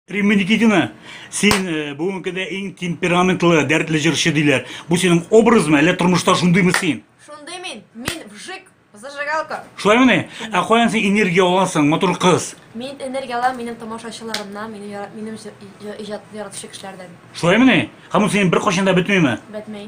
Римма Никитина, син э, бүгенге көндә иң темпераментлы, дәртле җырчы диләр. Бу синең образмы, әллә тормышта шундыймы син? Шундый мин, мин вжик, зажигалка. Шулаймыни? Ә каян син энергия аласың, матур кыз? Мин энергия алам минем тамашачыларымнан, минем яра- минем җыр- җыр- иҗат яратучы кешеләрдән. Шулаймыни? Һәм ул синең беркайчан да бетмиме? Бәтмәй.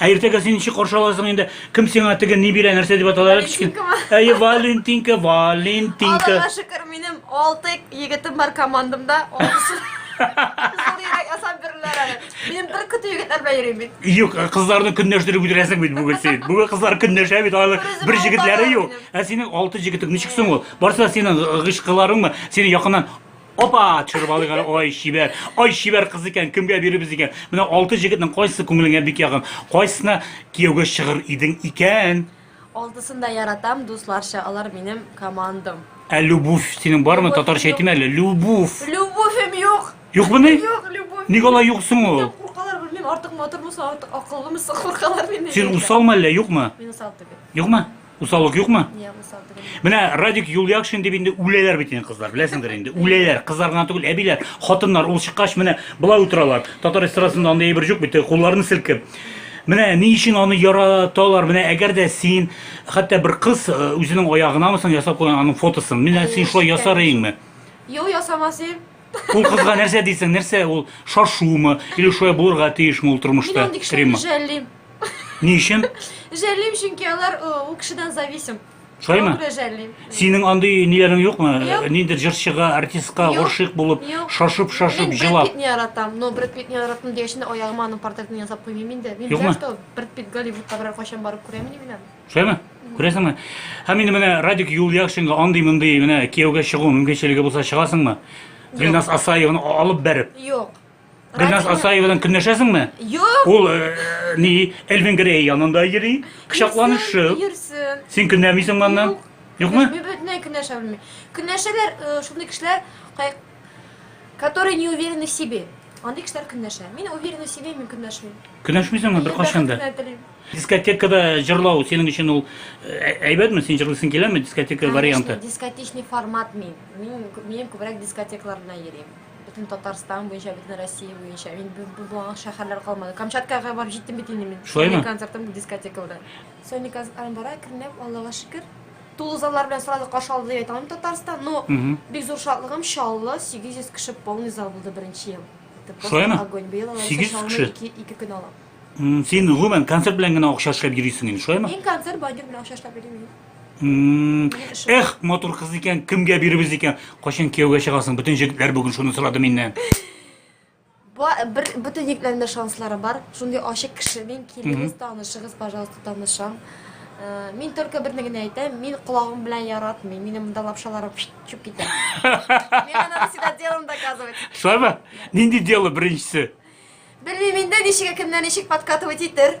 Ә иртәгә син ничек каршы аласың инде? Кем сиңа теге ни бирә, нәрсә дип аталар? Валентинкамы? Әйе, Валентинка, Валентинка. Аллаһка шөкер, минем 6 егетем бар командамда. Алсыз. Зур йөрәк ясап бирүләр әле. Минем бер көтү егетләр белән йөрим мин. Юк, кызларны көнләштереп үтерәсең бит бүген син. Бүген кызлар көнләшә бит, алар Берүзе бер белән җегетләре юк. бармадым Ә синең алты җегетең ничек соң ул? Барсы да синең гыйшкыларыңмы? Сине якыннан Опа, чырбалык әле, ай чибәр, ай чибәр кыз икән, кемгә биребез икән? Менә алты җегетнең кайсы күңелеңә бик ягын, кайсына кияүгә чыгыр идең икән? Алтысын да яратам, дусларча, алар минем командам. Ә любовь синең бармы? Татарча әйтим әле, любовь. Любовем юк. Юкмы ни? Юк, любовь. Ник алай юксың ул? Куркалар белмим, артык матур булса, артык акыллымы, куркалар мине. Син усалмы әллә, юкмы? Мин усал түгел. Юкмы? Усаллык юкмы? Ня, усал түгел. Менә Радик Юльякшин дип инде үләләр бит инде кызлар, беләсеңдер инде. Үләләр, кызлар гына түгел, әбиләр, хатыннар ул чыккач менә болай утыралар. Татар эстрадасында андый әйбер юк бит, кулларын селкеп. Менә ни өчен аны яраталар? Менә әгәр дә син хәтта бер кыз э, үзенең аягынамы соң ясап куйган аның фотосын. Менә син шулай ясар идеңме? Юк, ясамас идем. Ул кызга нәрсә дисең, нәрсә ул шашумы, или шулай булырга тиешме ул тормышта? Мин Римма. Жәллим. Ни өчен? Жәллим, чөнки алар ул кешедән зависим. Шулаймы? Жәллим. Синең андый ниләрең юкмы? Ниндер җырчыга, артистка гашыйк булып, шашып, шашып, җылап. Мин Брэд не яратам, но Брэд Питтны яратам дигәч, аягыма аның портретын ясап куймыйм инде. Мин Юкмы? Брэд Питт Голливудта берәр кайчан барып күрәмени беләм. Шулаймы? Күрәсеңме? Һәм инде менә Радик Юльяшинга андый-мондый менә кияүгә чыгу мөмкинчелеге булса чыгасыңмы? Гөлназ Асаеваны алып бәреп. Юк. Гөлназ Асаева белән көнләшәсеңме? Юк. Ул э, ни, Эльвин Грей янында йөри, кочакланышып. Йөрсен. Син көнләмисең моннан? Юк. Юкмы? Мин бөтенләй көнләшә белмим. Көнләшәләр э, шундый кешеләр, Которые не уверены в себе. Андый кешеләр көнләшә. Мин уверены в себе, мин көнләшмим. Көнләшмисеңме бер кашанда? Мин бәхет телим. Дискотекада җырлау синең өчен ул э, әйбәтме? Син җырлыйсың киләме дискотека варианты? Дискотечный формат мин. Мин мин күбрәк дискотекалар белән йөрим. Бөтен Татарстан буенча, бөтен Россия буенча. Мин булган шәһәрләр калмады. Камчаткага барып җиттем бит инде мин. Шулаймы? Концертым дискотекалар. Соник Армбара көнләп Аллага шөкер. Тулы заллар белән сразу каршы алды дип әйтә алмыйм Татарстан, но бик зур шатлыгым Чаллы 800 кеше полный зал булды беренче ел. Шулаймы? Огонь. Быел алар 800 кеше. 2 2 көн ала. Син гомумән концерт белән генә акча эшләп йөрисең инде, шулаймы? Мин концерт бадем белән акча эшләп йөрим. Эх, матур кыз икән, кемгә биребез икән? Кайчан кияүгә чыгасың? Бөтен җегетләр бүген шуны сорады миннән. Бу бер бөтен егетләрнең дә шанслары бар. Шундый ачык кеше мин. Килегез, танышыгыз, пожалуйста, танышам. Э, мин только берне генә әйтәм, мин колагым белән яратмыйм. Минем монда лапшаларым чүп китә. Мин аны всегда делом доказывать. Шулаймы? Нинди дело беренчесе? Белмим инде ничек кемнән ничек подкатывать итер.